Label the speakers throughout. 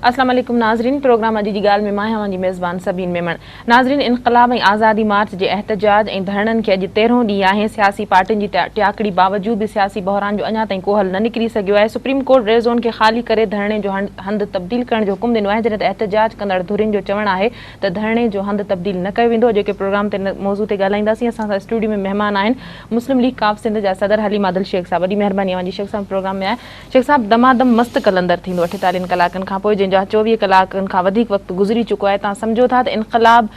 Speaker 1: اسلام عليڪم ناظرين پروگرام اڄ جي ڳالهه ۾ مان آهيان اوهان جي ميزبان سبين ميمڻ ناظرين انقلاب ۽ آزادي مارچ جي احتجاج ۽ ڌرڻن کي اڄ تيرهون ڏينهن آهي سياسي پارٽين جي ٽياڪڙي باوجود به سياسي بحران جو اڃا تائين ڪو حل نه نڪري سگهيو آهي سپريم ڪورٽ ريڊ زون کي خالي ڪري ڌرڻي جو هنڌ تبديل ڪرڻ جو حڪم ڏنو آهي جڏهن ته احتجاج ڪندڙ ڌرين جو چوڻ آهي ته ڌرڻي جو هنڌ تبديل نه ڪيو ويندو اڄوڪي پروگرام تي ان موضوع تي ڳالهائينداسين اسان سان اسٽوڊيو ۾ مهمان آهن مسلم ليگ ڪاف سنڌ جا صدر حليم عادل شيخ صاحب وڏي مهرباني اوهان جي شيخ صاحب پروگرام ۾ آهي شيخ صاحب دمادم مست قلندر ٿيندو اٺيتاليهن ڪلاڪن کان پوء جنهن جا چوويهه ڪلاڪن کان وڌيڪ وقت گذري چڪو آهي تان سمجهو ٿا ته انقلاب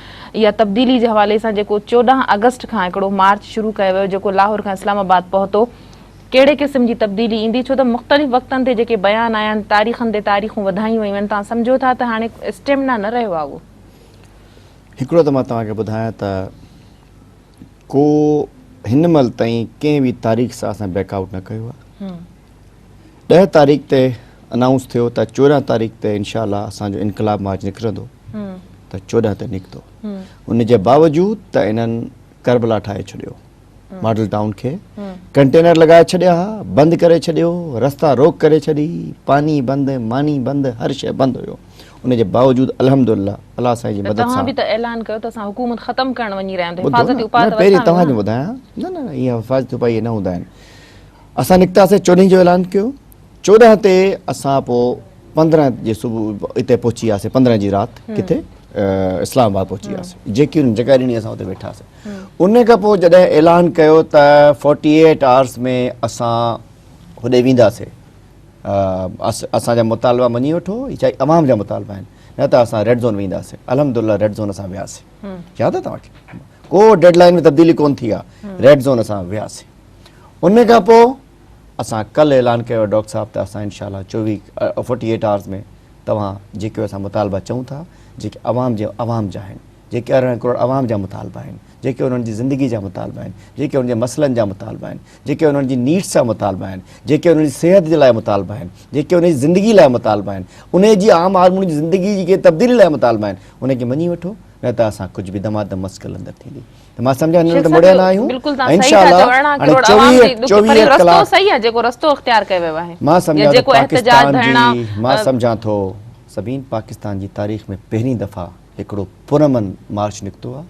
Speaker 1: يا تبديلي جي حوالي سان جيڪو چوڏهن آگسٽ کان هڪڙو مارچ شروع ڪيو ويو جيڪو لاهور کان اسلام آباد پهتو ڪهڙي قسم جي تبديلي ايندي ڇو ته مختلف وقتن تي جيڪي بيان آيا آهن تاريخن تي تاريخون وڌايون ويون آهن توهان سمجهو ٿا ته هاڻي اسٽيمنا نه رهيو آهي اهو.
Speaker 2: هڪڙو ته مان توهان کي ٻڌايان ته ڪو هن مهل تائين ڪنهن به تاريخ سان اسان بيڪ آئوٽ نه ڪيو آهي ڏهه تاريخ تي انائونس ٿيو ته چوڏهن تاريخ تي انشاء الله اسان جو انقلاب مارچ نڪرندو ته چوڏهن تي نڪتو ان جي باوجود ته انهن ڪربلا ٺاهي ڇڏيو. ماڊل ٽائون کي ڪنٽينر لڳائي ڇڏيا ها بند ڪري ڇڏيو رستا روڪ ڪري ڇڏي پاني بند ماني بند هر شيء بند هيو ان جي باوجود الحمدالله الله سائين جي مدد سان توهان به ته اعلان ڪيو ته
Speaker 1: اسان حڪومت ختم ڪرڻ وڃي رهيا آهيون حفاظتي اپاء ته پهرين توهان کي
Speaker 2: ٻڌايان نه نه اهي حفاظتي اپاء نه هوندا آهن اسان نڪتاسين چوڏهين جو اعلان ڪيو چوڏهن تي اسان پوء پندرهن جي صبح اتي پهچي وياسين پندرهن جي رات ڪٿي اسلام آباد پهچي وياسين جي ڪيون جڳهه ڏني اسان اتي ويٺاسين ان کان پوء جڏهن اعلان ڪيو ته فورٽي ايٽ آورس ۾ اسان هوڏي وينداسين اسان جا مطالبا مڃي وٺو چاهي عوام جا مطالبا آهن نه ته اسان ريڊ زون وينداسين الحمد لله ريڊ زون اسان وياسين ياد آهي توهان کي ڪو ڊيڊ لائن ۾ تبديلي ڪون ٿي آهي ريڊ زون اسان وياسين ان کان پوء اسان ڪل اعلان ڪيو آهي ڊاڪٽر صاحب ته اسان انشاء الله چوويهه فورٽي ايٽ آورز ۾ توهان جيڪي اسان مطالبا چئون ٿا جيڪي عوام جي عوام جا آهن جيڪي ارڙهن ڪروڙ عوام جا مطالبا آهن جيڪي انهن جي زندگي جا مطالبا آهن جيڪي انهن جي مسئلن جا مطالبا آهن جيڪي انهن جي نيڊس جا مطالبا آهن جيڪي انهن جي صحت جي لاء مطالبا آهن جيڪي انهن جي زندگي لاء مطالبا آهن ان جي عام آدمي جي زندگي جي تبديلي لاء مطالبا آهن ان کي مڃي وٺو نه ته اسان ڪجهه به دمادم مسڪل اندر ٿيندي ته مان سمجهان هن ته مڙيا نه آهيون ۽ انشاء الله هاڻي چوويهه چوويهه ڪلاڪ صحيح آهي جيڪو رستو اختيار ڪيو ويو آهي مان سمجهان ٿو پاڪستان جي مان سمجهان ٿو سبين پاڪستان جي تاريخ ۾ پهرين دفعا هڪڙو پرامن مارچ نڪتو آهي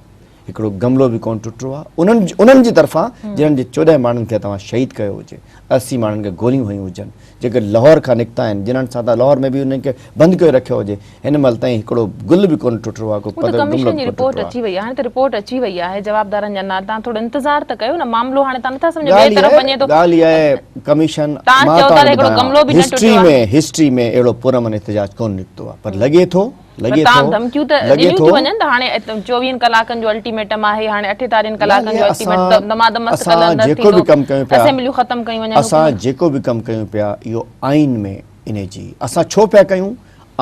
Speaker 2: هڪڙو گملو به ڪونه ٽٽو آهي انهن انهن جي طرفان جنهن جي چوڏهن ماڻهن کي توهان شهيد ڪيو هجي اسي ماڻهن کي گوليون هنيون هجن جيڪي لاهور کان نڪتا آهن جنھن سان ته لاهور ۾ به انهن کي بند ڪيو رکيو هجي هن مهل تائين هڪڙو گل به ڪونه ٽٽو آهي ڪو هو ته پتو ڪميشن جي رپورٽ اچي
Speaker 1: وئي آهي هاڻي ته رپورٽ اچي وئي آهي جوابدارن جا نالا تان ٿورو انتظار ته ڪيو نه معاملو هاڻي تان نٿا سمجهو ٻئي طرف وڃي ٿو ڳالهه اها آهي
Speaker 2: ڪميشن تان چئو ٿا ته هڪڙو گملو به نه ٽٽو آهي هسٽري ۾ هسٽري ۾ اهڙو پرامن احتجاج ڪونه نڪتو آهي پر لڳي ٿو لڳي ٿو تمام ڌمڪيون
Speaker 1: ته ڏنيون ٿيون وڃن ته هاڻي چوويهن ڪلاڪن جو الٽيميٽم آهي هاڻي اٺيتارين ڪلاڪن جو الٽيميٽم دمادم مست ڪل اندر ٿيندو اسيمبليون ختم
Speaker 2: ڪيون وڃن اسان
Speaker 1: جيڪو به ڪم
Speaker 2: ڪيون پيا اهو آئين ۾ انهي جي اسان ڇو پيا ڪيون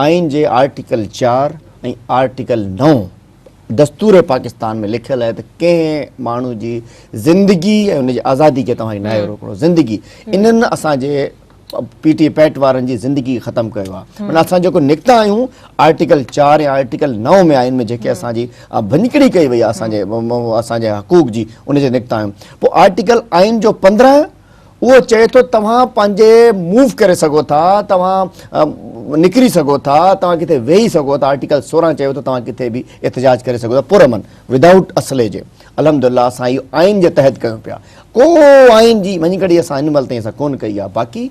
Speaker 2: آئين جي آرٽيڪل چار ۽ آرٽيڪل نو دستور پاڪستان ۾ لکيل آهي ته ڪنهن ماڻهو جي زندگي ۽ ان جي آزادي کي توهان ناهي روڪڻو زندگي انهن اسان جي پي ٽي پيٽ وارن جي زندگي ختم ڪيو آ معنی اسان جيڪو نڪتا آهيون آرٽيڪل چار يا آرٽيڪل نو ۾ آئين ۾ جيڪي اسان جي ڀڃڪڙي ڪئي وئي آ اسان جي اسان جي حقوق جي ان جي نڪتا آهيون پو آرٽيڪل آئين جو پندرهن اهو چئي ٿو توهان پنهنجي موو ڪري سگهو ٿا توهان نڪري سگهو ٿا توهان ڪٿي ويهي سگهو ٿا آرٽيڪل سورهن چئي ٿو توهان ڪٿي به احتجاج ڪري سگهو ٿا پر امن ودائوٽ اسلحي جي الحمد الله اسان اهو آئين جي تحت ڪيون پيا ڪو آئين جي مڃي ڪڙي اسان هن مهل تائين اسان ڪون ڪئي آهي باقي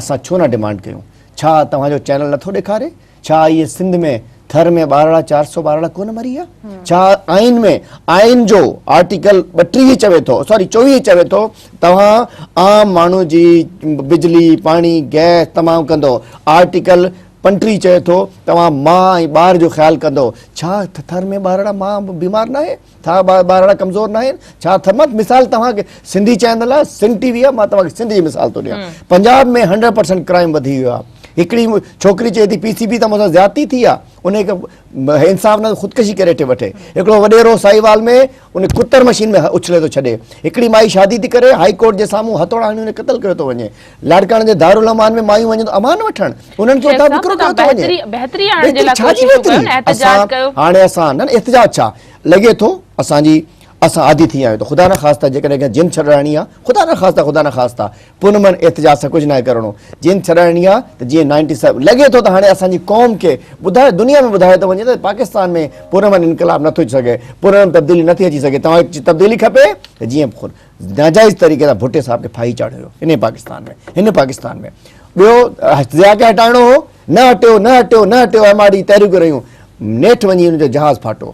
Speaker 2: اسان ڇو نه ڊمانڊ ڪيون ڇا توهان جو چينل نٿو ڏيکاري ڇا اهي سنڌ ۾ ٿر ۾ ٻارڙا چار سو ٻارڙا ڪون مري آ ڇا آئين ۾ آئين جو آرٽيڪل ٻٽيهه چوي ٿو سوري چويهه چوي ٿو توهان عام ماڻهو جي بجلي پاڻي گئس تمام ڪندو آرٽيڪل پنٽيهه چوي ٿو توهان ماء ۽ ٻار جو خيال ڪندو ڇا ٿر ۾ ٻارڙا ماء بيمار ناهي ٿا ٻارڙا ڪمزور ناهن ڇا ٿمت مثال توهان کي سنڌي چينل آهي سنڌ ٽي وي آهي مان توهان کي سنڌ جي مثال ٿو ڏيان پنجاب ۾ هنڊريڊ پرسنٽ ڪرائيم وڌي ويو آهي هڪڙي ڇوڪري چئي ٿي پي سي بي ته مون سان زيادتي ٿي آ ان کي انصاف نه خودڪشي ڪري ٿي وٺي هڪڙو وڏيرو سائي وال ۾ ان ڪتر مشين ۾ اڇلي ٿو ڇڏي هڪڙي مائي شادي ٿي ڪري هاء ڪورٽ جي سامهون هٿوڙا هڻي قتل ڪيو ٿو وڃي لاڙڪاڻي جي دارالامان ۾ مايون وڃن ٿيون امان وٺڻ انهن کي اتان وڪرو ڪيو ٿو وڃي بهتري آڻڻ جي لاء ڇا جي بهتري اسان هاڻي اسان نه احتجاج ڇا لڳي ٿو اسان جي اسان عادي ٿي ويا آهيون ته خدا نه خاصتا جيڪڏهن ڪنهن جن ڇڏرائڻي آهي خدا نه خاصتا خدا نه خاصتا پوء نه من احتجاج سان ڪجهه ناهي ڪرڻو جن ڇڏرائڻي آهي ته جيئن نائنٽي سيون لڳي ٿو ته هاڻي اسان جي قوم کي ٻڌايو دنيا ۾ ٻڌايو ٿو وڃي ته پاڪستان ۾ پرامن انقلاب نٿو اچي سگهي پرامن تبديلي نٿي اچي سگهي توهان کي تبديلي کپي ته جيئن ناجائز طريقي سان ڀٽي صاحب کي ڦاهي چاڙهيو ويو انهي پاڪستان ۾ هن پاڪستان ۾ ٻيو ضياء کي هٽائڻو هو نه هٽيو نه هٽيو نه هٽيو ايم آر ڊي تحريڪون رهيون نيٺ وڃي ان جو جهاز ڦاٽو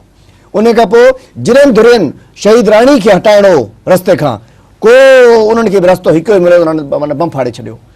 Speaker 2: ان کان پوء جنن ڌرين شهيد راڻي کي هٽائڻو هو رستي کان ڪو انهن کي به رستو هڪ ئي مليو انهن معنی بم ڦاڙي ڇڏيو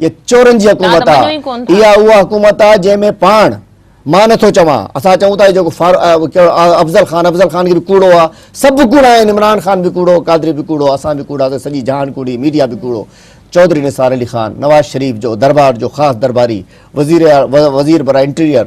Speaker 1: اها
Speaker 2: چورن
Speaker 1: جي
Speaker 2: حڪومت آ اها اها حڪومت آ جنهن ۾ پاڻ مان نه ٿو چوان اسان چئون ٿا جو افضل خان افضل خان کي به ڪوڙو آ سڀ ڪوڙا آهن عمران خان به ڪوڙو قادري به ڪوڙو اسان به ڪوڙا سڄي جهان ڪوڙي ميڊيا به ڪوڙو چوڌري نثار علي خان نواز شريف جو دربار جو خاص درباري وزير وزير برا انٽيريئر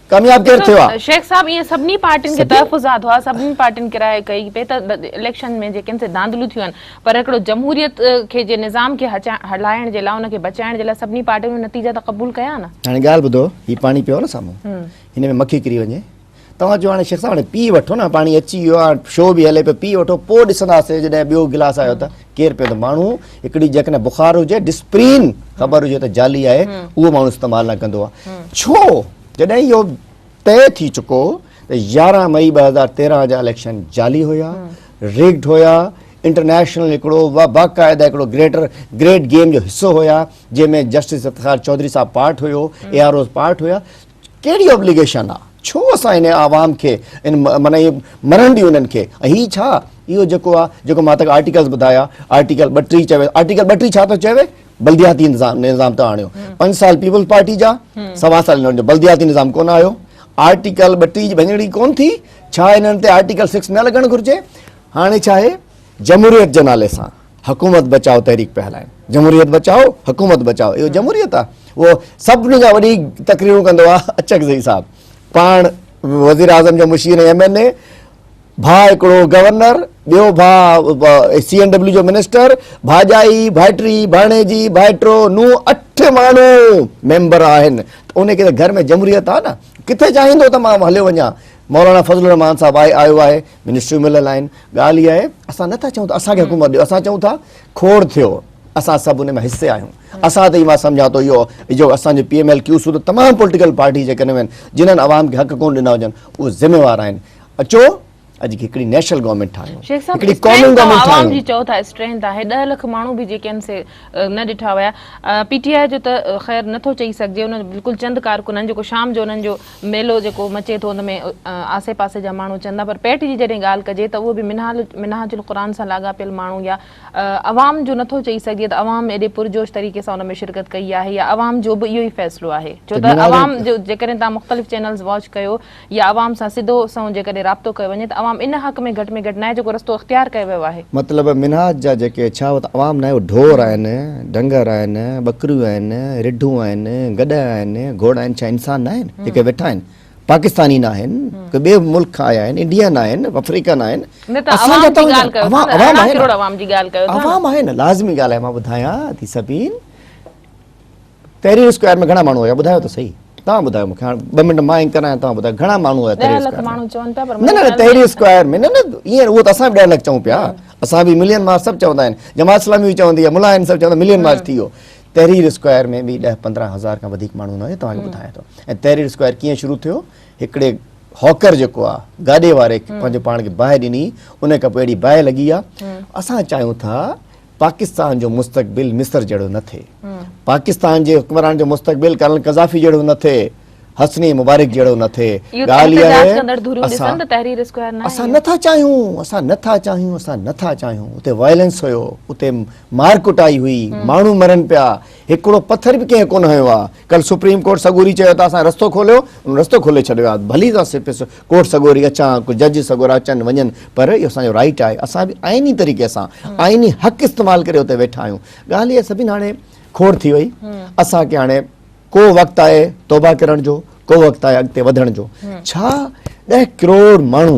Speaker 2: ڪامياب ڪير ٿيو آ؟ شيخ صاحب ايئن سڀني
Speaker 1: پارٽين کي تحفظات هئا سڀني پارٽين ڪرايو ڪئي پئي ته اليڪشن ۾ جيڪي سي ڌانڌليون ٿيون آهن پر هڪڙو جمهوريت کي جي نظام کي هلائڻ جي لاء ان کي بچائڻ جي لاء سڀني پارٽين اهي نتيجا ته قبول ڪيا نه. هاڻي ڳالهه ٻڌو هي پاڻي
Speaker 2: پيو نه سامهون هن ۾ مکي ڪري وڃي توهان چيو هاڻي شيخ صاحب هاڻي پي وٺو نه پاڻي اچي ويو آ شو به هلي پيو پي وٺو پوء ڏسنداسي جڏهن ٻيو گلاس آيو ته ڪير پيو ته ماڻهو هڪڙي جيڪڏهن بخار هجي ڊسپرين خبر هجي ته جعلي آهي اهو ماڻهو استعمال نه ڪندو آهي ڇو جڏهن اهو طئي ٿي چڪو ته يارهن مئي ٻه هزار تيرهن جا اليڪشن جعلي هيا ريگڊ هيا انٽرنيشنل هڪڙو باقاعده هڪڙو گريٽر گريٽ گيم جو حصو هيا جنهن ۾ جسٽس افتخار چوڌري صاحب پارٽ هيو اي آر اوز پارٽ هيا ڪهڙي ابليگيشن آ ڇو اسان ان عوام کي ان معنيٰ اهي مرڻ ڏيون انهن کي ۽ هي ڇا اهو جيڪو آ جيڪو مان تک آرٽيڪلز ٻڌايا آرٽيڪل ٻه ٽي چوي آرٽيڪل ٻه ٽي ڇا ٿو چوي بلدياتي نظام ته آڻيو پنج سال پيپلز پارٽي جا سوا سال انهن جو بلدياتي نظام ڪونه آيو آرٽيڪل ٻه ٽي جي ڀڃڙي ڪون ٿي ڇا انهن تي آرٽيڪل سڪس نه لڳڻ گهرجي هاڻي ڇا آهي جمهوريت جي نالي سان حڪومت بچائو تحريڪ پيا هلائين جمهوريت بچائو حڪومت بچائو اهو جمهوريت آ اهو سڀني کان وڏي تقريرون ڪندو آ اچڪزئي صاحب پاڻ وزير اعظم جو مشير ايم اين اي ڀاء هڪڙو گورنر ٻيو ڀاء سي اين ڊبليو جو منسٽر ڀاڄائي ڀائٽي ڀاڻيجي ڀائٽو نو اٺ ماڻهو ميمبر آهن ان کي گهر ۾ جمهوريت آ نه ڪٿي چاهيندو ته مان هليو وڃان مولانا فضل الرحمان صاحب آهي آيو آهي منسٽريون مليل آهن ڳالهه اها آهي اسان نٿا چئون ته اسان کي حڪومت ڏيو اسان چئون ٿا کوڙ ٿيو اسان سڀ ان ۾ حصي آهيون اسان ته مان سمجهان ٿو اهو جو اسان جو پي ايم ايل ڪيو سو ته تمام پوليٽيڪل پارٽي جيڪڏهن آهن جنن عوام کي حق ڪون ڏنا هجن اهو ذميوار آهن اچو اڄ هڪڙي نيشنل گورنمنٽ ٺاهيون هڪڙي قومي گورنمنٽ ٺاهيون عوام جي چئو ٿا اسٽرينٿ
Speaker 1: آهي 10 لک ماڻهو به جيڪي آهن سي نه ڏٺا ويا پي ٽي آء جو ته خير نٿو چئي سگهجي ان بلڪل چند ڪارڪن آهن جيڪو شام جو انهن جو ميلو جيڪو مچي ٿو ان ۾ آسي پاسي جا ماڻهو اچن ٿا پر پيٽ جي جڏهن ڳالهه ڪجي ته اهو به منهال منهاج القرآن سان لاڳاپيل ماڻهو يا عوام جو نٿو چئي سگهجي ته عوام ايڏي پرجوش طريقي سان ان ۾ شرڪت ڪئي آهي يا عوام جو به اهو ئي فيصلو آهي ڇو ته عوام جو جيڪڏهن توهان مختلف چينلز واچ ڪيو يا عوام سان سڌو سنئون جيڪڏهن رابطو ڪيو وڃي ته عوام ان حق ۾ گهٽ ۾ گهٽ ناهي جيڪو رستو اختيار ڪيو ويو آهي مطلب منهاج جا
Speaker 2: جيڪي ڇا اهو ته عوام ناهي اهو ڍور آهن ڍنگر آهن ٻڪريون آهن رڍون آهن گڏهه آهن گهوڙا آهن ڇا انسان ناهن جيڪي ويٺا آهن پاڪستاني ناهن ڪو ٻئي ملڪ کان آيا آهن انڊيا ناهن افريڪا ناهن اسان جا ته عوام آهن عوام آهن لازمي ڳالهه آهي مان ٻڌايان ٿي سڀين تحرير اسڪوائر ۾ گهڻا ماڻهو هيا ٻڌايو ته صحيح توهان ٻڌايو مونکي هاڻ ٻه منٽ مان انڪر آهيان توهان ٻڌايو گهڻا ماڻهو هيا تحرير اسڪوائر ۾ نه نه نه تحرير اسڪوائر ۾ نه نه ايئن اهو ته اسان به ڏهه لک چئون پيا اسان به ملين مارچ سڀ چوندا آهن جماعت اسلامي به چوندي آهي ملا آهن سڀ چوندا ملين مارچ ٿي ويو تحرير اسڪوائر ۾ به ڏهه پندرهن هزار کان وڌيڪ ماڻهو نه هيا توهان کي ٻڌايان ٿو ۽ تحرير اسڪوائر ڪيئن شروع ٿيو هڪڙي هاڪر جيڪو آهي گاڏي واري پنهنجو پاڻ کي باهه ڏني ان کان پوء اهڙي باهه لڳي آهي اسان چاهيون ٿا پاڪستان جو مستقبل مصر جهڙو نه ٿئي، پاڪستان جي حڪمران جو مستقبل ڪرنل قذافي جهڙو نه ٿئي، حسني مبارڪ جهڙو نه ٿئي، ڳالهه اها آهي اسان
Speaker 1: اسان نه ٿا چاهيون،
Speaker 2: اسان نه ٿا چاهيون، اسان نه ٿا چاهيون، اتي وائلنس هيو، اتي مار ڪٽائي هئي، ماڻهو مرن پيا، هڪڙو پٿر به ڪنهن ڪونه هنيو آهي. ڪل سپريم ڪورٽ سڳوري چيو ته اسان رستو کوليو ان رستو کولي ڇڏيو آهي ڀلي اسان سپس ڪورٽ سڳوري اچان ڪو جج سڳورا اچن وڃن پر اهو اسان جو رائيٽ آهي اسان به آئيني طريقي سان آئيني حق استعمال ڪري اتي ويٺا آهيون ڳالهه اهي سڀين هاڻي کوڙ ٿي وئي اسان کي هاڻي ڪو وقت آهي توبه ڪرڻ جو ڪو وقت آهي اڳتي وڌڻ جو ڇا ڏهه ڪروڙ ماڻهو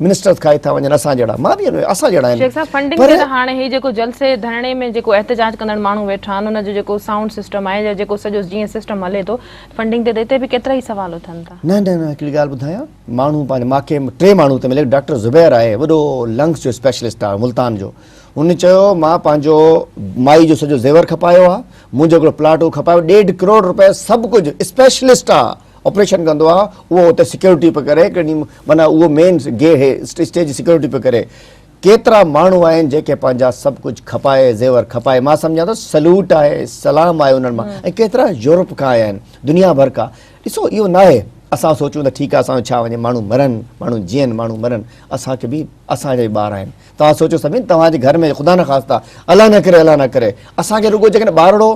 Speaker 2: منسٽرز کائي ٿا وڃن اسان جهڙا مان به اهي اسان جهڙا آهن شيخ صاحب فنڊنگ تي ته
Speaker 1: هاڻي هي جيڪو جلسي ڌرڻي ۾ جيڪو احتجاج ڪندڙ ماڻهو ويٺا آهن ان جو جيڪو سائونڊ سسٽم آهي يا جيڪو سڄو جيئن سسٽم هلي ٿو فنڊنگ تي ته هتي به ڪيترا ئي سوال اٿن ٿا. نه نه نه هڪڙي ڳالهه ٻڌايان
Speaker 2: ماڻهو پنهنجو ماکي ٽي ماڻهو ته ملي ڊاڪٽر زبير آهي وڏو لنگس جو اسپيشلسٽ آهي ملتان جو ان چيو مان پنهنجو مائي جو سڄو زيور کپايو آهي منهنجو هڪڙو پلاٽ هو کپايو ڏيڍ ڪروڙ روپيه سڀ ڪجهه اسپيشلسٽ آهي آپريشن ڪندو آ اهو اتي سيڪيورٽي پيو ڪري ڪني معنيٰ اهو مين گي هي اسٽيج جي سيڪيورٽي پيو ڪري ڪيترا ماڻهو آهن جيڪي پنهنجا سڀ ڪجهه کپائي زيور کپائي مان سمجهان ٿو سلوٽ آهي سلام آهي انهن مان ۽ ڪيترا يورپ کان آيا آهن دنيا ڀر کان ڏسو اهو ناهي اسان سوچون ته ٺيڪ آهي اسان جو ڇا وڃي ماڻهو مرن ماڻهو جيئن ماڻهو مرن اسان کي به اسان جا ئي ٻار آهن توهان سوچيو سمين توهان جي گهر ۾ خدا نه خاصتا الله نه ڪري الله نه ڪري اسان کي رڳو جيڪڏهن ٻارڙو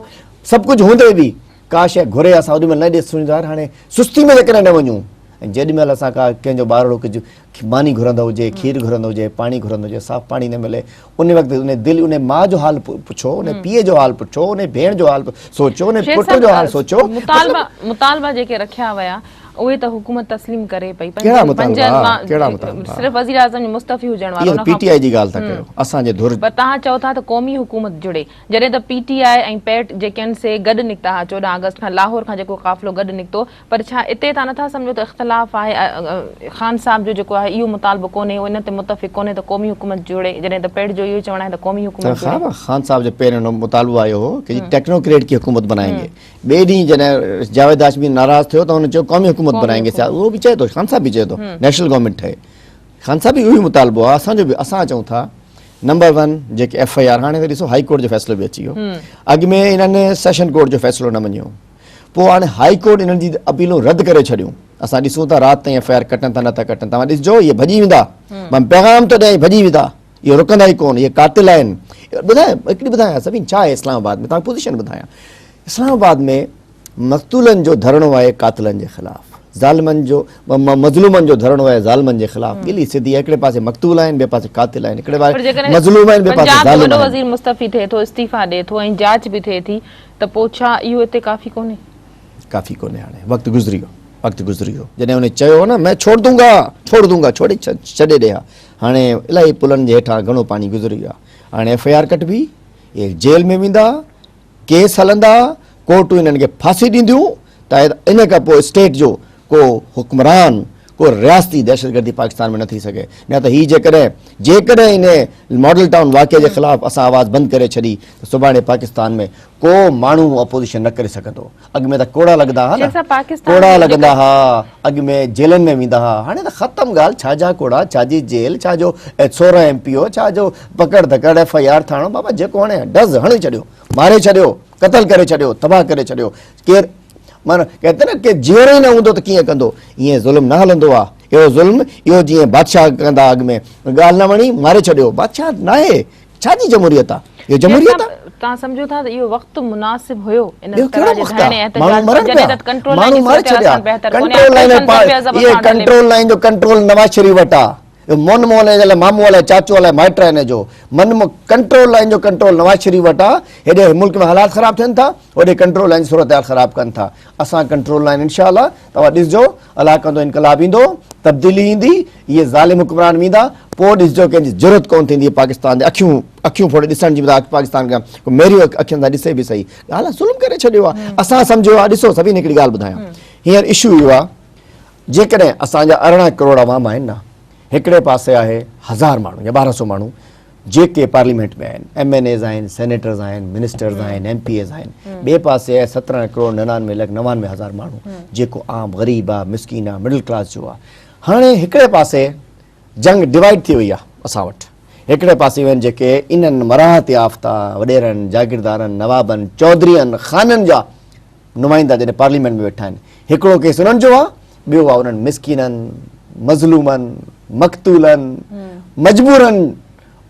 Speaker 2: سڀ ڪجهه هوندي به ڪا شيء گهري اسان اوڏي مهل نه ڏيس سڻي ظاهر هاڻي سستي ۾ جيڪڏهن نه وڃون ۽ جيڏي مهل اسان ڪا ڪنهن جو ٻارڙو ڪجهه ماني گهرندو هجي کير گهرندو هجي پاڻي گهرندو هجي صاف پاڻي نه ملي ان وقت ان جي دل ان جي ماء جو حال پڇو ان جي پيء جو حال پڇو ان جي ڀيڻ جو حال سوچو ان جي پٽ جو حال سوچو مطالبا مطالبا
Speaker 1: جيڪي رکيا ويا اهي ته حڪومت تسليم ڪري پئي ڪهڙا مطالبا ڪهڙا مطالبا
Speaker 2: صرف وزيراعظم جو
Speaker 1: مستعفي هجڻ وارو ان کان پي ٽي آئي جي ڳالهه ٿا ڪيو
Speaker 2: اسان جي ڌر پر تهان چئو ٿا ته قومي
Speaker 1: حڪومت جڙي جڏهن ته پي ٽي آء ۽ پيٽ جيڪنسي گڏ نڪتا ها چوڏهن آگسٽ کان لاهور کان جيڪو قافلو گڏ نڪتو پر ڇا اتي تان نٿا سمجهو ته اختلاف آهي خان صاحب جو جيڪو آهي اهو مطالبو ڪونهي هو ان تي متفق ڪونهي ته قومي حڪومت جوڙي جڏهن ته پيٽ جو اهو چوڻ آهي ته قومي حڪومت جوڙي. خان صاحب جو پهرين اهو
Speaker 2: مطالبو آيو هو ڪي جي ٽيڪنو ڪريٽ ڪي حڪومت بنائين گي ٻئي ڏينهن جڏهن جاويد هاشمي ناراض ٿيو ته هن چيو قومي حڪومت بنائين گي سياست اهو به چئي ٿو خان صاحب به چئي ٿو نيشنل گورنمينٽ ٺهي خان صاحب به اهو ئي مطالبو آهي اسان جو به اسان چئون ٿا نمبر ون جيڪي ايف آء آر هاڻي ته ڏسو هائي ڪورٽ جو فيصلو به اچي ويو اڳ ۾ انهن سيشن ڪورٽ جو فيصلو نه مڃيو پوء هاڻي هائي ڪورٽ انهن جي اپيلون رد ڪري ڇڏيون اسان ڏسون ٿا رات تائين ايف آء آر ڪٽن ٿا نه ٿا ڪٽن توهان ڏسجو اهي ڀڄي ويندا مان پيغام ٿو ڏيان اهي ڀڄي ويندا اهي رڪندا ئي ڪون اهي قاتل آهن ٻڌايان هڪڙي ٻڌايان سڀني ڇا آهي اسلام آباد ۾ توهان کي پوزيشن ٻڌايان اسلام آباد ۾ مقتولن جو ڌرڻو آهي قاتلن جي خلاف ظالمن جو مظلومن جو ڌرڻو آهي ظالمن جي خلاف ڳلي سڌي آهي هڪڙي پاسي مقتول آهن ٻئي پاسي قاتل آهن هڪڙي پاسي مظلوم آهن ٻئي پاسي ظالم آهن وزير مستعفي ٿئي ٿو
Speaker 1: استعيفا ڏئي ٿو ۽ جاچ به ٿئي ٿي ته پوء ڇا اهو هتي ڪافي ڪونهي ڪافي ڪونهي هاڻي وقت
Speaker 2: گذري ويو وقت گذري ويو جڏهن ان چيو هو نه مين ڇوڙ دون گا ڇوڙ دون گا ڇوڙي ڇڏي ڏي ها هاڻي الائي پلن جي هيٺان گهڻو پاڻي گذري ويو آهي هاڻي ايف آء آر ڪٽبي جيل ۾ ويندا ڪيس هلندا، ڪورٽون انهن کي ڦاسي ڏينديون ته ان کان پوء اسٽيٽ جو ڪو حڪمران، ڪو رياستي دهشتگردي پاڪستان ۾ نه ٿي سگهي نه ته هي جيڪڏهن جيڪڏهن ان ماڊل ٽائون واقعي جي خلاف اسان آواز بند ڪري ڇڏي ته سڀاڻي پاڪستان ۾ ڪو ماڻهو اپوزيشن نه ڪري سگهندو. اڳ ۾ ته ڪوڙا لڳندا ها نه ڪوڙا لڳندا ها اڳ ۾ جيلن ۾ ويندا ها هاڻي ته ختم ڳالهه ڇا جا ڪوڙا ڇا جي جيل ڇا جو سورهن ايم پي او ڇا جو پڪڙ ڌڪڙ ايف آئي آر ٿاڻو بابا جيڪو هڻي ڊز هڻي ڇڏيو ماري ڇڏيو قتل ڪري ڇڏيو تباهه ڪري ڇڏيو ڪير مانو ڪهتي نه ڪي جيئرو ئي نه هوندو ته ڪيئن ڪندو ائين ظلم نه هلندو آ اهو ظلم اهو جيئن بادشاهه ڪندا اڳ ۾ ڳالهه نه وڻي ماري ڇڏيو بادشاهه ناهي ڇا جي جمهوريت آ اهو جمهوريت آ. توهان سمجهو ٿا ته اهو
Speaker 1: وقت مناسب هيو ان طرح جي ڌرڻي ۽
Speaker 2: احتجاج
Speaker 1: جو جڏهن ڪنٽرول لائين جي صورت
Speaker 2: حال کان بهتر ڪونهي آخر سندن بي عزت سان هلي ڪنٽرول لائين جو ڪنٽرول نواز شريف وٽ آ اهو مون مون الائي جا مامو الائي چاچو الائي مائٽ آهن جو من ڪنٽرول لائين جو ڪنٽرول نواز شريف وٽ آ هيڏي ملڪ ۾ حالات خراب ٿين ٿا هوڏي ڪنٽرول لائين جي صورت حال خراب ڪن ٿا اسان ڪنٽرول آهن انشاء الله توهان ڏسجو علائقن تون انقلاب ايندو تبديلي ايندي اهي ظالم حڪمران ويندا پوء ڏسجو ڪنهن جي جرت ڪون ٿيندي پاڪستان تي اکيون اکيون ڦوڙي ڏسڻ جي بجاء پاڪستان کي ڪو ميريو اکين سان ڏسي به صحيح ڳالهه ظلم ڪري ڇڏيو آهي اسان سمجهيو آهي ڏسو سڀني هڪڙي ڳالهه ٻڌايان هينئر اشو اهو آهي جيڪڏهن اسان جا ارڙهن ڪروڙ عوام آهن نه هڪڙي پاسي آهي هزار ماڻهو يا ٻارهن سو ماڻهو جيڪي پارليمينٽ ۾ آهن، ايم اين ايز آهن، سينيٽرز آهن، منسٽرز آهن، ايم پي ايز آهن، ٻئي پاسي آهي سترهن ڪروڙ ننانوي لک نوانوي هزار ماڻهو جيڪو عام غريب آهي، مسڪين آهي، مڊل ڪلاس جو آهي. هاڻي هڪڙي پاسي جنگ ڊوائيڊ ٿي وئي آهي اسان وٽ، هڪڙي پاسي وڃ جيڪي انهن مراعات يافته وڏيرن، جاگيردارن، نوابن، چوڌرين، خانن جا نمائندا جڏهن پارليامينٽ ۾ ويٺا آهن، هڪڙو ڪيس انهن جو آهي، ٻيو آهي انهن مسڪينن، مظلومن، مقتولن، مجبورن،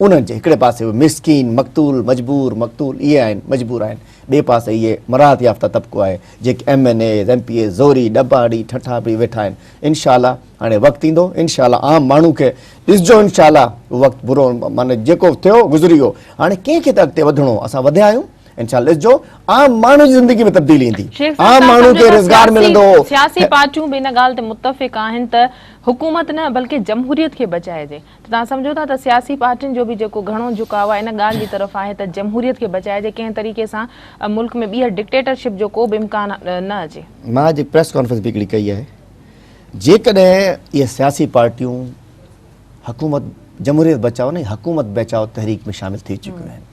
Speaker 2: انهن جي هڪڙي پاسي اهي مسڪين، مقتول، مجبور، مقتول اهي آهن، مجبور آهن، ٻئي پاسي اهي مراعات يافته طبقو آهي، جيڪي M N As, M P As, زوري، ڏٻاڙي، ٺٺا پي ويٺا آهن. انشاء الله هاڻي وقت ايندو، انشاء الله عام ماڻهو کي ڏسجو انشاء الله وقت برو معنيٰ جيڪو ٿيو گذري ويو، هاڻي ڪنهن کي ته اڳتي وڌڻو، اسان وڌيا آهيون، انشاء الله ڏسجو عام ماڻهو جي زندگي ۾ تبديلي ايندي عام ماڻهو کي روزگار ملندو سياسي پارٽيون به
Speaker 1: ان ڳالهه تي متفق آهن ته حڪومت نه بلڪه جمهوريت کي بچائجي ته توهان سمجهو ٿا ته سياسي پارٽين جو به جيڪو گهڻو جهڪاء آهي ان ڳالهه جي طرف آهي ته جمهوريت کي بچائجي ڪنهن طريقي سان ملڪ ۾ ٻيهر ڊڪٽيٽرشپ جو ڪو به امڪان نه اچي مان اڄ پريس ڪانفرنس
Speaker 2: به هڪڙي ڪئي آهي جيڪڏهن اهي سياسي پارٽيون حڪومت جمهوريت بچاء نه حڪومت بچاء تحريڪ ۾ شامل ٿي چڪيون آهن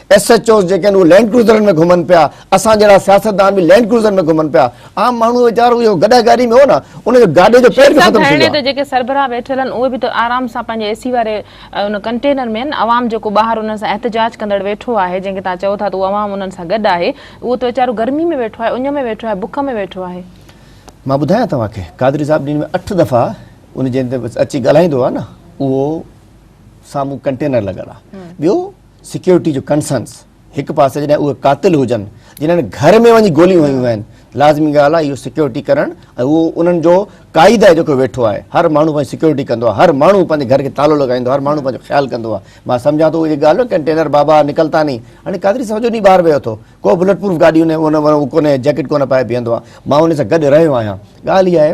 Speaker 2: ايس ايڇ اوز جيڪي آهن اهي لينڊ ڪروزرن ۾ گهمن پيا، اسان جهڙا سياستدان به لينڊ ڪروزرن ۾ گهمن پيا، عام ماڻهو ويچارو اهو گڏهه گاڏي ۾ هو نه ان جو گاڏي جو پير به ختم ٿي ويو آهي. جيڪي سربراهه ويٺل آهن
Speaker 1: اهي به ته آرام سان پنهنجي اي سي واري ان ڪنٽينر ۾ آهن، عوام جيڪو ٻاهر انهن سان احتجاج ڪندڙ ويٺو آهي جنهن کي توهان چئو ٿا ته اهو عوام انهن سان گڏ آهي اهو ته ويچارو گرمي ۾ ويٺو آهي، اڃ ۾ ويٺو آهي، بک ۾ ويٺو آهي. مان ٻڌايان
Speaker 2: توهان کي قادري صاحب ڏينهن ۾ اٺ دفعا ان جنهن تي اچي ڳالهائيندو آهي نه اهو سامهون ڪنٽينر لڳل آهي ٻيو سيڪيورٽي جو ڪنسرنس هڪ پاسي جڏهن اهي قاتل هجن جنن گهر ۾ وڃي گوليون هنيون آهن لازمي ڳالهه آهي اهو سيڪيورٽي ڪرڻ ۽ اهو انهن جو قائد آهي جيڪو ويٺو آهي هر ماڻهو پنهنجي سيڪيورٽي ڪندو آهي هر ماڻهو پنهنجي گهر کي تالو لڳائيندو هر ماڻهو پنهنجو خيال ڪندو آهي مان سمجهان ٿو اهڙي ڳالهه ڪنٽينر بابا نڪلتا ني هاڻي قادري سمجهو ني ٻاهر ويو ٿو ڪو بلٽ پروف گاڏي هن ڪونهي جيڪٽ ڪونه پائي بيهندو آهي مان ان سان گڏ رهيو آهيان ڳالهه اها آهي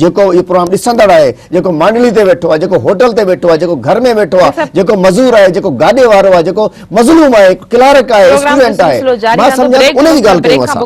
Speaker 2: جيڪو اهو پروگرام ڏسندڙ آهي، جيڪو مانڊلي تي ويٺو آهي، جيڪو هوٽل تي ويٺو آهي، جيڪو گهر ۾ ويٺو آهي، جيڪو مزور آهي، جيڪو گاڏي وارو آهي، جيڪو مظلوم آهي، ڪلارڪ آهي، اسٽوڊنٽ آهي، مان سمجهان ٿو ان جي ڳالهه ڪيون
Speaker 1: اسان.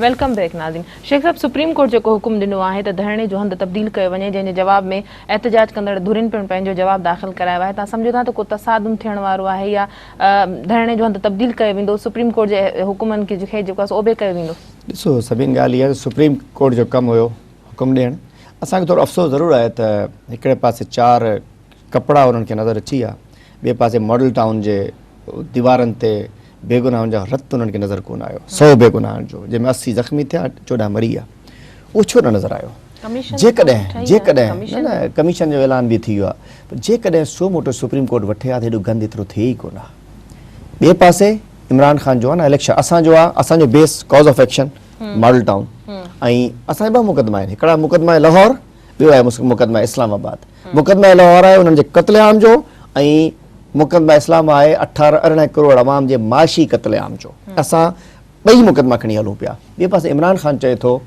Speaker 1: ويلڪم بيڪ ناظرين شيخ صاحب سپريم ڪورٽ جيڪو حڪم ڏنو آهي ته ڌرڻي جو هنڌ تبديل ڪيو وڃي جنهن جي جواب ۾ احتجاج ڪندڙ ڌرين پڻ پنهنجو جواب داخل ڪرايو آهي تان سمجهو ٿا ته ڪو تصادم ٿيڻ وارو آهي يا ڌرڻي جو هنڌ تبديل ڪيو ويندو سپريم ڪورٽ جي حڪمن کي جيڪو آهي سو اوبي ڪيو ويندو ڏسو سڀين ڳالهه
Speaker 2: اها ته سپريم ڪورٽ جو ڪم هيو حڪم ڏيڻ اسان کي ٿورو افسوس ضرور آهي ته هڪڙي پاسي چار ڪپڙا انهن کي نظر اچي ويا ٻئي پاسي ماڊل ٽائون جي ديوارن تي بيگناهن جو رت انهن کي نظر ڪونه آيو سؤ بيگناهن جو جنهن ۾ اسي زخمي ٿيا چوڏهن مري ويا اهو ڇو نه نظر آيو جيڪڏهن جيڪڏهن نه نه ڪميشن جو اعلان به ٿي ويو آهي پر جيڪڏهن سو موٽو سپريم ڪورٽ وٺي ها ته هيڏو گند ايترو ٿئي ئي ڪونه ها ٻئي پاسي عمران خان جو آهي نه اليڪشن اسان جو آهي اسان جو base cause of action Model Town ۽ اسان جا ٻه مقدما آهن هڪڙا مقدما لاهور ٻيو آهي مقدما اسلام آباد مقدما لاهور آهي انهن جي قتل عام جو ۽ مقدما اسلام آهي اٺارهن ارڙهن ڪروڙ عوام جي معاشي قتل عام جو اسان ٻئي مقدما کڻي هلون پيا ٻئي پاسي عمران خان چئي ٿو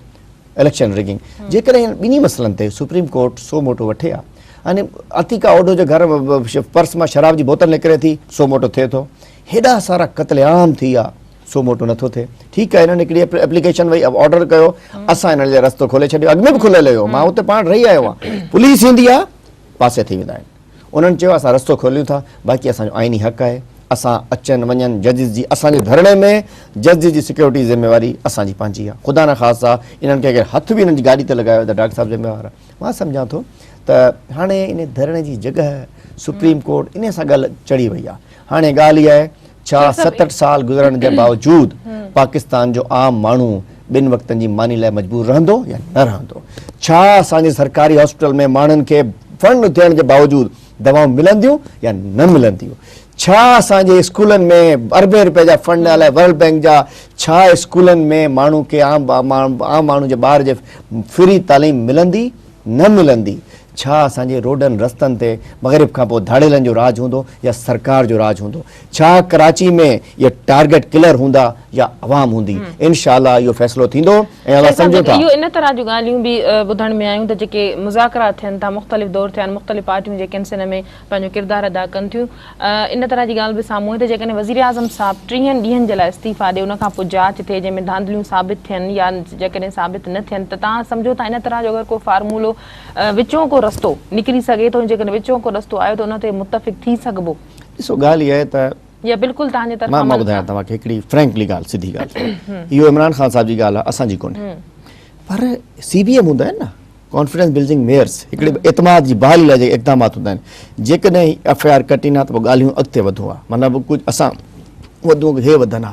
Speaker 2: اليڪشن رگنگ جيڪڏهن ٻنهي مسئلن تي سپريم ڪورٽ سو موٽو وٺي ها يعني عتيقا اوڊو جو گھر پرس مان شراب جي بوتل نڪري ٿي سو موٽو ٿئي ٿو هيڏا سارا قتل عام ٿي ويا سو موٽو نٿو ٿئي ٺيڪ آهي هنن هڪڙي ايپليڪيشن وئي آرڊر ڪيو اسان هنن لاء رستو کولي ڇڏيو اڳ ۾ به کليل هيو مان اتي پاڻ رهي آيو آهيان پوليس ايندي آهي پاسي ٿي ويندا آهن انهن چيو اسان رستو کوليون ٿا باقي اسان جو آئيني حق آهي اسان اچن وڃن ججز جي اسان جي ڌرڻي ۾ ججز جي سيڪيورٽي ذميواري اسان جي پنهنجي آهي خدا نه خاصا انهن کي اگر هٿ به انهن جي گاڏي تي لڳايو ته ڊاڪٽر صاحب ذميوار آهي مان سمجهان ٿو ته هاڻي ان ڌرڻي جي جڳهه سپريم ڪورٽ انهي سان ڳالهه چڙهي وئي آهي هاڻي ڳالهه اها آهي ڇا ستهٺ سال گذرڻ جي باوجود پاڪستان جو عام ماڻهو ٻن وقتن جي ماني لاء مجبور رهندو يا نه رهندو؟ ڇا اسان جي سرڪاري هاسپيٽل ۾ ماڻهن کي فنڊ ٿيڻ جي باوجود دوائون ملنديون يا نه ملنديون؟ ڇا اسان جي اسڪولن ۾ اربين روپين جا فنڊ الائي ورلڊ بينڪ جا ڇا اسڪولن ۾ ماڻهو کي عام ماڻهو جي ٻار جي فري تعليم ملندي نه ملندي؟ ڇا اسان جي روڊن رستن تي مغرب کان پوء ڌاڙيلن جو راڄ هوندو يا سرڪار جو راڄ هوندو؟ ڇا ڪراچي ۾ اهي ٽارگيٽ ڪلر هوندا يا عوام هوندي؟ انشاء الله اهو فيصلو ٿيندو ۽ اسان سمجهون ٿا. اهو ان طرح جون ڳالهيون
Speaker 1: به ٻڌڻ ۾ آيون ته جيڪي مذاڪرات ٿين ٿا مختلف دور ٿيا آهن مختلف پارٽيون جيڪي ان سن ۾ پنهنجو ڪردار ادا ڪن ٿيون ان طرح جي ڳالهه به سامهون آئي ته جيڪڏهن وزيراعظم صاحب ٽيهن ڏينهن جي لاء استعيفا ڏي ان کان پوء جاچ ٿئي جنهن ۾ ڌانڌليون ثابت ٿين يا جيڪڏهن ثابت نه ٿين ته تان سمجهو ٿا ان طرح جو اگر ڪو فارمولو وچون ڪو رستو نڪري سگهي ٿو ۽ جيڪڏهن وچون ڪو رستو آيو ته ان تي متفق ٿي سگهبو. ڏسو ڳالهه اها آهي
Speaker 2: ته. يا بلڪل توهان جي
Speaker 1: طرفان. مان ٻڌايان توهان کي هڪڙي
Speaker 2: فرينڪلي ڳالهه سڌي ڳالهه اهو عمران خان صاحب جي ڳالهه آهي اسان جي ڪونهي پر سي بي ايم هوندا آهن نه ڪانفيڊنس بلڊنگ ميئرس هڪڙي اعتماد جي بحالي لاء جيڪي اقدامات هوندا آهن جيڪڏهن ايف آء آر ڪٽين ها ته پوء ڳالهيون اڳتي وڌون ها مطلب ڪجهه اسان وڌون ها هي وڌن ها.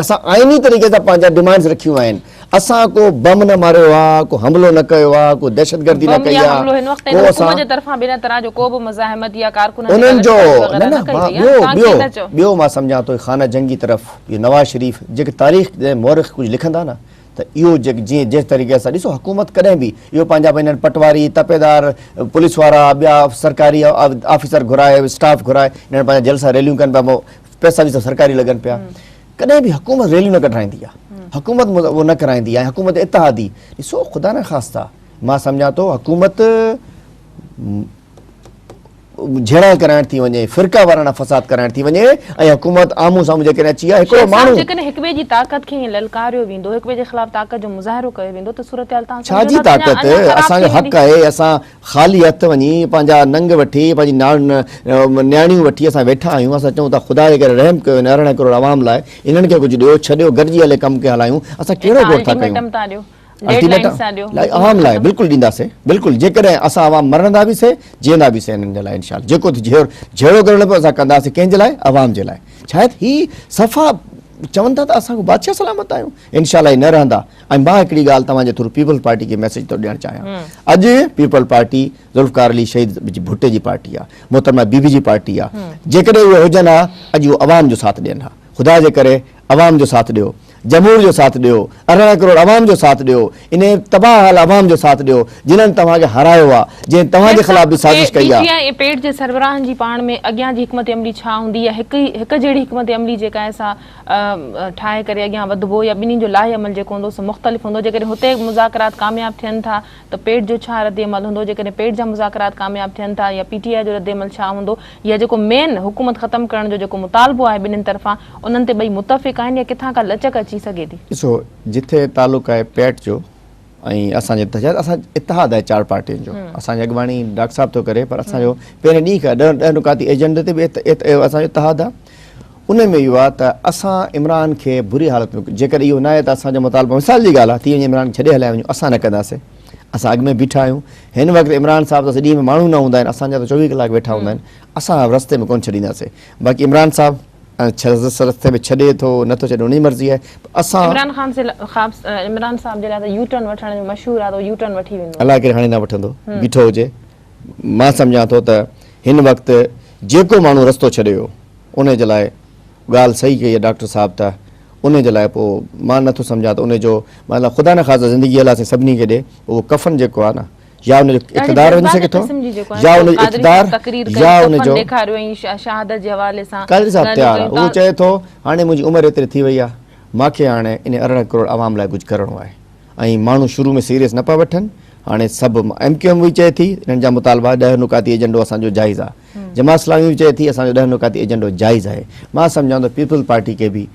Speaker 2: اسان آئيني طريقي سان پنهنجا ڊمانڊز رکيون آهن، اسان ڪو بم نه ماريو آ، ڪو حملو نه ڪيو آ، ڪو دهشتگردي نه ڪئي آ، ڪو اسان. انهن جو نه نه مان ٻيو ٻيو ٻيو مان سمجهان ٿو خانه جنگي طرف اهو نواز شريف جيڪي تاريخ جي مورخ ڪجهه لکندا نه ته اهو جيڪ جيئن جنهن طريقي سان ڏسو حڪومت ڪڏهن به اهو پنهنجا به انهن پٽواري تپيدار پوليس وارا ٻيا سرڪاري آفيسر گهرائي اسٽاف گهرائي انهن پنهنجا جلسا ريليون ڪن پيا پئسا به سڀ سرڪاري لڳن پيا ڪڏهن به حڪومت ريليون نه ڪڍرائيندي آهي حڪومت اهو نه ڪرائيندي آهي حڪومت اتحادي ڏسو خدا نه خاصا مان سمجهان ٿو حڪومت جھڙا ڪرائڻ ٿي وڃي فرقا وارا فساد ڪرائڻ ٿي وڃي ۽ حڪومت آمو سامو جيڪڏهن اچي آ هڪڙو ماڻهو جيڪڏهن هڪ ٻئي جي طاقت
Speaker 1: کي للڪاريو ويندو هڪ ٻئي جي خلاف طاقت جو مظاهرو ڪيو ويندو ته صورتحال تان سمجهو ته
Speaker 2: اڃا خراب ٿي ويندي خالي هٿ وڃي پنهنجا ننگ وٺي پنهنجي ناڻ نياڻيون وٺي اسان ويٺا آهيون اسان چئون ٿا خدا جي ڪري رحم ڪيو هن ارڙهن ڪروڙ عوام لاء انهن کي ڪجهه ڏيو ڇڏيو گڏجي هلي ڪم کي هلايون اسان ڪهڙو گوٺ ٿا ڪيون الٽيميٽم عوام لاء بلڪل ڏينداسي بلڪل جيڪڏهن اسان عوام مرندا به سهي جيئندا به سهي انهن جي لاء انشاءالله جيڪو جهيڙو ڪرڻو پيو اسان ڪنداسي ڪنهن جي لاء عوام جي لاء شايد هي صفا چون ٿا ته اسان بادشاهه سلامت آهيون انشاءالله هي نه رهندا ۽ مان هڪڙي ڳالهه توهان جي ٿرو پيپلز پارٽي کي ميسيج ٿو ڏيڻ چاهيان اڄ پيپلز پارٽي ذوالفقار علي شهيد جي ڀٽي جي پارٽي آ محترمه بي بي جي پارٽي آ جيڪڏهن اهي هجن ها اڄ اهي عوام جو ساٿ ڏين ها خدا جي ڪري عوام جو ساٿ ڏيو جمهور جو ساٿ ڏيو ارڙهن ڪروڙ عوام جو ساٿ ڏيو انهي تباهه حال عوام جو ساٿ ڏيو جنن توهان کي هارايو آ جنهن توهان جي خلاف به سازش ڪئي آ. پي ٽي آئي ۽ پيٽ جي سربراهن جي
Speaker 1: پاڻ ۾ اڳيان جي حڪمت عملي ڇا هوندي يا هڪ جهڙي حڪمت عملي جيڪا آهي سا ٺاهي ڪري اڳيان وڌبو يا ٻنهي جو لاهي عمل جيڪو هوندو سو مختلف هوندو جيڪڏهن هتي مذاڪرات ڪامياب ٿين ٿا ته پيٽ جو ڇا رد عمل هوندو جيڪڏهن پيٽ جا مذاڪرات ڪامياب ٿين ٿا يا پي ٽي آء جو رد عمل ڇا هوندو يا جيڪو مين حڪومت ختم ڪرڻ جو جيڪو مطالبو آهي ٻنهين طرفان انهن تي ٻئي متفق آهن يا ڪٿان ڪا لچڪ اچي سگهي ٿي. ڏسو جتي
Speaker 2: تعلق آهي پيٽ جو ۽ اسان جي اتحاد اسان اتحاد آهي چار پارٽين جو اسان جي اڳواڻي ڊاڪٽر صاحب ٿو ڪري پر اسان جو پهرين ڏينهن کان ڏهن ڏهن نقاطي ايجنڊي تي به اسان جو اتحاد آهي ان ۾ اهو آهي ته اسان عمران کي بري حالت ۾ جيڪڏهن اهو ناهي ته اسان جو مطالبو مثال جي ڳالهه آهي ٿي وڃي عمران کي ڇڏي هليا وڃو اسان نه ڪنداسين اسان اڳ ۾ بيٺا آهيون هن وقت عمران صاحب ته ڏينهن ۾ ماڻهو نه هوندا آهن اسان جا ته چوويهه ڪلاڪ ويٺا هوندا آهن اسان رستي ۾ ڪونه ڇڏينداسين باقي عمران صاحب ۽ ڇرس سرس تي به ڇڏي ٿو نه ٿو ڇڏي ان جي مرضي آهي پر اسان. عمران خان سي خاب
Speaker 1: عمران صاحب جي لاء ته يو ٽرن وٺڻ جو مشهور آهي ته هو يو ٽرن وٺي ويندو. الاء ڪير هاڻي نه وٺندو
Speaker 2: بيٺو هجي مان سمجهان ٿو ته هن وقت جيڪو ماڻهو رستو ڇڏي ويو ان جي لاء ڳالهه صحيح ڪئي آهي ڊاڪٽر صاحب ته ان جي لاء پو مان نه ٿو سمجهان ته ان جو مان خدا نه خاصا زندگي الله سائين سڀني کي ڏي پو اهو ڪفن جيڪو آهي نه يا ان جو اقتدار وڃي سگهي ٿو يا ان جو اقتدار يا ان جو شهادت جي حوالي سان قادري صاحب تيار آهي هو چئي ٿو هاڻي منهنجي عمر ايتري ٿي وئي آهي مان کي هاڻي ان ارڙهن ڪروڙ عوام لاء ڪجهه ڪرڻو آهي ۽ ماڻهو شروع ۾ سيريس نه پيا وٺن هاڻي سڀ ايم ڪيو ايم اهي چئي ٿي انهن جا مطالبا ڏهه نقاطي ايجنڊو اسان جو جائز آهي جماعت اسلامي به چئي ٿي اسان جو ڏهه نقاطي ايجنڊو جائز آهي مان سمجهان ٿو پيپلز پارٽي کي به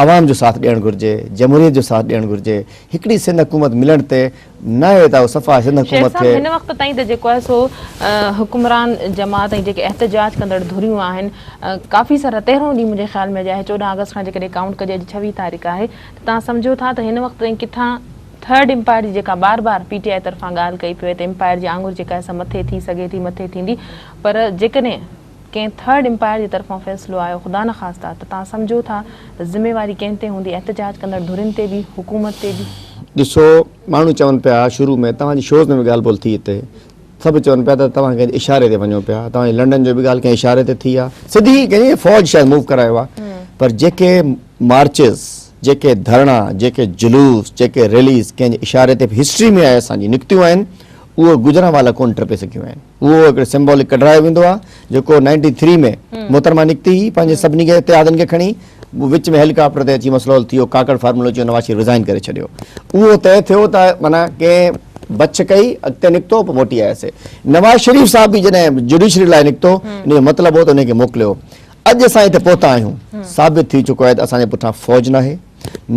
Speaker 2: عوام جو ساٿ ڏيڻ گهرجي، جمهوريت جو ساٿ ڏيڻ گهرجي، هڪڙي سنڌ حڪومت ملڻ تي ناهي ته صفا سنڌ شيخ حڪومت صاحب کي. هن وقت تائين
Speaker 1: ته جيڪو آهي
Speaker 2: سو
Speaker 1: حڪمران جماعت ۽ جيڪي احتجاج ڪندڙ ڌريون آهن ڪافي سارا تيرهون ڏينهن منهنجي خيال ۾ اڄ آهي چوڏهن آگسٽ کان جيڪڏهن ڪائونٽ ڪجي اڄ ڇويهه تاريخ آهي ته تان سمجهو ٿا ته هن وقت تائين ڪٿان ٿرڊ امپائر جي جيڪا بار بار پي ٽي آئي طرفان ڳالهه ڪئي پيو وئي ته امپائر جي آڱر جيڪا آهي سا مٿي ٿي سگهي ٿي مٿي ٿيندي پر جيڪڏهن ڪنهن ٿرڊ امپائر جي طرفان فيصلو آيو خدا نخواسته ته توهان سمجهو ٿا ته ذميواري ڪنهن تي هوندي احتجاج ڪندڙ ڌرين تي به حڪومت تي به. ڏسو
Speaker 2: ماڻهو چون پيا شروع ۾ توهان جي شوز ۾ به ڳالهه ٻولهه ٿي هتي سڀ چون پيا ته توهان ڪنهن جي اشاري تي وڃو پيا توهان جي لنڊن جو به ڳالهه ڪنهن اشاري تي ٿي آهي سڌي ڪنهن فوج شايد موو ڪرايو آهي پر جيڪي مارچز جيڪي ڌرڻا جيڪي جلوس جيڪي ريليز ڪنهن جي اشاري تي هسٽري ۾ آهي اسان جي نڪتيون آهن اهو گجرانوالا ڪونه ٽپي سگهيون آهن. اهو هڪڙو سمبولڪ ڪڍرايو ويندو آهي جيڪو نائنٽي ٿري ۾ محترمه نڪتي هئي پنهنجي سڀني کي اتحادن کي کڻي وچ ۾ هيليڪاپٽر تي اچي مسلول ٿي ويو ڪاڪڙ فارمولو اچي ويو نواز شريف رزائن ڪري ڇڏيو اهو طئي ٿيو ته معنيٰ ڪنهن بڇ ڪئي اڳتي نڪتو پوء موٽي آياسي نواز شريف صاحب به جڏهن جوڊيشري لاء نڪتو ان جو مطلب هو ته ان کي موڪليو اڄ اسان هتي پهتا آهيون ثابت ٿي چڪو آهي ته اسان جي پٺيان فوج ناهي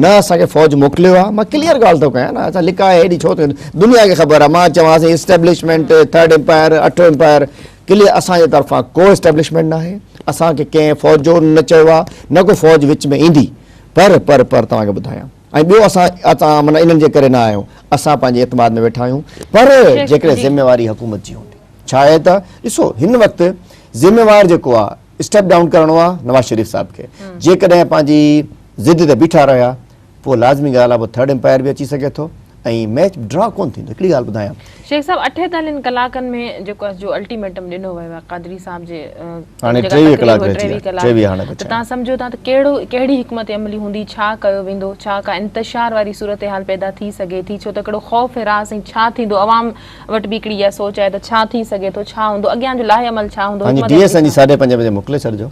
Speaker 2: نه اسان کي فوج موڪليو آ مان ڪليئر ڳالهه ٿو ڪيان نه اسان لڪائي هيڏي ڇو ٿيون دنيا کي خبر آ مان چوان اسين اسٽيبلشمينٽ ٿرڊ امپائر اٺون امپائر ڪليئر اسان جي طرفان ڪو اسٽيبلشمينٽ ناهي اسان کي ڪنهن فوج جو نه چيو آ نه ڪو فوج وچ ۾ ايندي پر پر پر توهان کي ٻڌايان ۽ ٻيو اسان اتان معنيٰ انهن جي ڪري نه آيا آهيون اسان پنهنجي اعتماد ۾ ويٺا آهيون پر جيڪڏهن ذميواري حڪومت جي هوندي ڇا آهي ته ڏسو هن وقت ذميوار جيڪو آ اسٽيپ ڊائون ڪرڻو آ نواز شريف صاحب کي جيڪڏهن پنهنجي ضد تي بيٺا رهيا پوء لازمي ڳالهه آ پوء ٿرڊ امپائر به اچي سگهي ٿو ۽ ميچ ڊرا ڪونه ٿيندو هڪڙي ڳالهه ٻڌايان شيخ صاحب اٺيتالين
Speaker 1: ڪلاڪن ۾ جيڪو آ جو الٽيميٽم ڏنو ويو آ قادري صاحب جي هاڻي ٽيويهه
Speaker 2: ڪلاڪ رهجي ويا ٽيويهه هاڻي بچيا ته تان سمجهو ٿا
Speaker 1: ته ڪهڙو ڪهڙي حڪمت عملي هوندي ڇا ڪيو ويندو ڇا ڪا انتشار واري صورتحال پيدا ٿي سگهي ٿي ڇو ته هڪڙو خوف هراس ۽ ڇا ٿيندو عوام وٽ به هڪڙي اها سوچ آهي ته ڇا ٿي سگهي ٿو، ڇا هوندو، اڳيان جو لاهي عمل ڇا هوندو، پنهنجي ڊي ايس اين جي ساڍي پنجين
Speaker 2: بجي موڪلي ڇڏجو،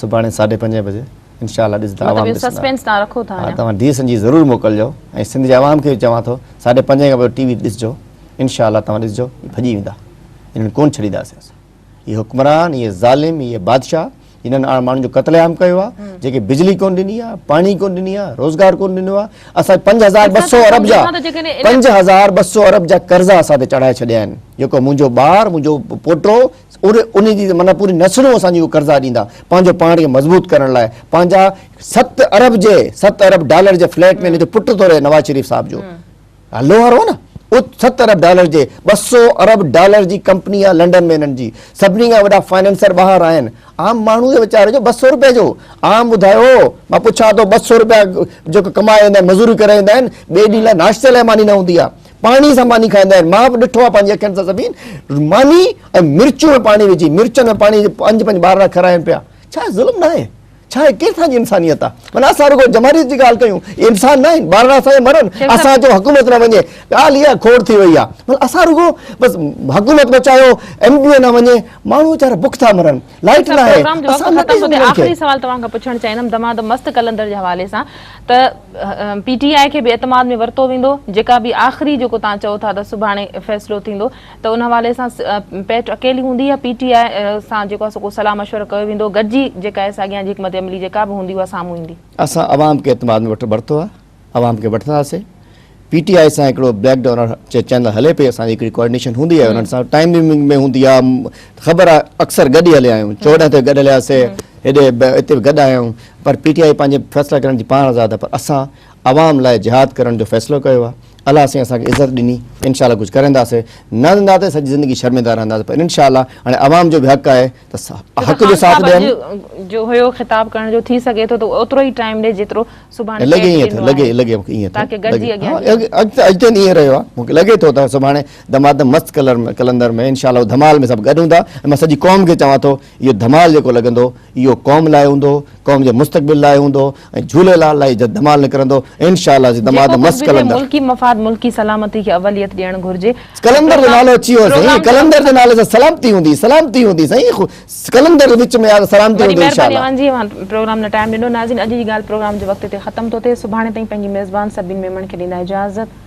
Speaker 2: سڀاڻي ساڍي پنجين بجي انشاء الله ڏسندا عوام ڏسندا. مطلب اهو سسپينس تان رکو ٿا
Speaker 1: اڃا. توهان ڊي ايس اين جي ضرور
Speaker 2: موڪلجو ۽ سنڌ جي عوام کي به چوان ٿو ساڍي پنجين کان پوء ٽي وي ڏسجو انشاء الله توهان ڏسجو ڀڄي ويندا انهن کي ڪونه ڇڏينداسين اسان. هي حڪمران هي ظالم هي بادشاهه جنن آڻ ماڻهن جو قتل عام ڪيو آ جيڪي بجلي ڪون ڏني آ پاڻي ڪون ڏني آ روزگار ڪون ڏنو آ اسا 5200 ارب جا 5200 ارب جا قرضا اسا تي چڙهائي ڇڏيا آهن جيڪو منهنجو ٻار منهنجو پوٽو ان جي معنی پوري نسلون اسان جي قرضا ڏيندا پنهنجو پاڻ کي مضبوط ڪرڻ لاء پنهنجا 7 ارب جي 7 ارب ڊالر جي فليٽ ۾ ان جو پٽ ٿو رهي نواز شريف صاحب جو هلو هارو نه ات ست ارب ڊالر جي ٻه سو ارب ڊالر جي ڪمپني آ لنڊن ۾ انهن جي سڀني کان وڏا فائننسر ٻاهر آهن عام ماڻهو جي ويچاري جو ٻه سو روپيه جو عام ٻڌايو مان پڇان ٿو ٻه سو روپيه جيڪو ڪمائي ايندا آهن مزوري ڪري ايندا آهن ٻئي ڏينهن لاء ناشتي لاء ماني نه هوندي آ پاڻي سان ماني کائيندا آهن مان به ڏٺو آ پنهنجي اکين سان سڀين ماني ۽ مرچون ۾ پاڻي وجهي مرچن ۾ پاڻي پنج پنج ٻارڙا کراين پيا ڇا ظلم ناهي ڇا هي ڪير سان جي انسانيت آ من اسان رڳو جماريت جي ڳالهه ڪيون هي انسان ناهن ٻارڙا اسان جا مرن اسان جو حڪومت نه وڃي ڳالهه اها کوڙ ٿي وئي آ من اسان رڳو بس حڪومت بچايو ايم ڊي اي نه وڃي ماڻهو ويچارا بک ٿا مرن لائيٽ نه آهي اسان نه ڏئي سگهون آخري
Speaker 1: سوال توهان کان پڇڻ چاهيندم دماغ ته مست قلندر جي حوالي سان ته پي ٽي آء کي به اعتماد ۾ ورتو ويندو جيڪا به آخري جيڪو توهان چئو ٿا ته سڀاڻي فيصلو ٿيندو ته ان حوالي سان پ پ اڪيلي هوندي يا پي ٽي آء سان جيڪو آهي سو ڪو صلاح مشورو ڪيو ويندو گڏجي جيڪا آهي سا اڳيان جي حڪمت عملي جيڪا به هوندي اها سامهون ايندي. اسان عوام کي اعتماد ۾ وٺ
Speaker 2: ورتو آهي عوام کي وٺنداسي پي ٽي آء سان هڪڙو بليڪ ڊور چي چينل هلي پئي اسان جي هڪڙي ڪوآرڊينيشن هوندي آهي انهن سان ٽائيم ٽائيمنگ ۾ هوندي آهي خبر آهي اڪثر گڏ ئي هليا آهيون چوڏهن تي گڏ هلياسي هيڏي هتي به گڏ آهيون پر پي ٽي آء پنهنجي فيصلا ڪرڻ جي پاڻ آزاد آهي پر اسان عوام لاء جهاد ڪرڻ جو فيصلو ڪيو آ الله سائين اسان کي عزت ڏني انشاء الله ڪجھ ڪرنداسي نه ڏندا ته سڄي زندگي شرمندا رهنداسي پر انشاء الله هاڻي عوام جو به حق آهي ته حق جو ساٿ ڏين جو هيو خطاب
Speaker 1: ڪرڻ جو ٿي سگهي ٿو ته اوترو ئي ٽائيم ڏي جيترو سبحان لڳي ائين ٿو لڳي
Speaker 2: لڳي مونکي ائين ٿو لڳي اڳتي اڄ تائين ائين رهيو آ مونکي لڳي ٿو ته سڀاڻي دمادم مست ڪلر ۾ ڪلندر ۾ انشاء الله ڌمال ۾ سڀ گڏ هوندا ۽ مان سڄي قوم کي چوان ٿو اهو ڌمال جيڪو لڳندو اهو قوم لاء هوندو قوم جي مستقبل لاء هوندو ۽ جھولي لال لاء جد دمال نڪرندو انشاء الله جي دماد مست قلندر. ملڪي مفاد ملڪي
Speaker 1: سلامتي کي اوليت ڏيڻ گهرجي. قلندر جو نالو اچي
Speaker 2: ويو سائين قلندر جي نالي سان سلامتي هوندي سلامتي هوندي سائين قلندر جي وچ ۾ سلامتي هوندي انشاء الله. وڏي مھرباني اوھان جي پروگرام لاء ٽائيم ڏنو
Speaker 1: ناظرين اڄ جي ڳالھ پروگرام جي وقت تي ختم ٿو ٿئي سڀاڻي تائين پنھنجي ميزبان سبين ميمڻ کي ڏيندا اجازت.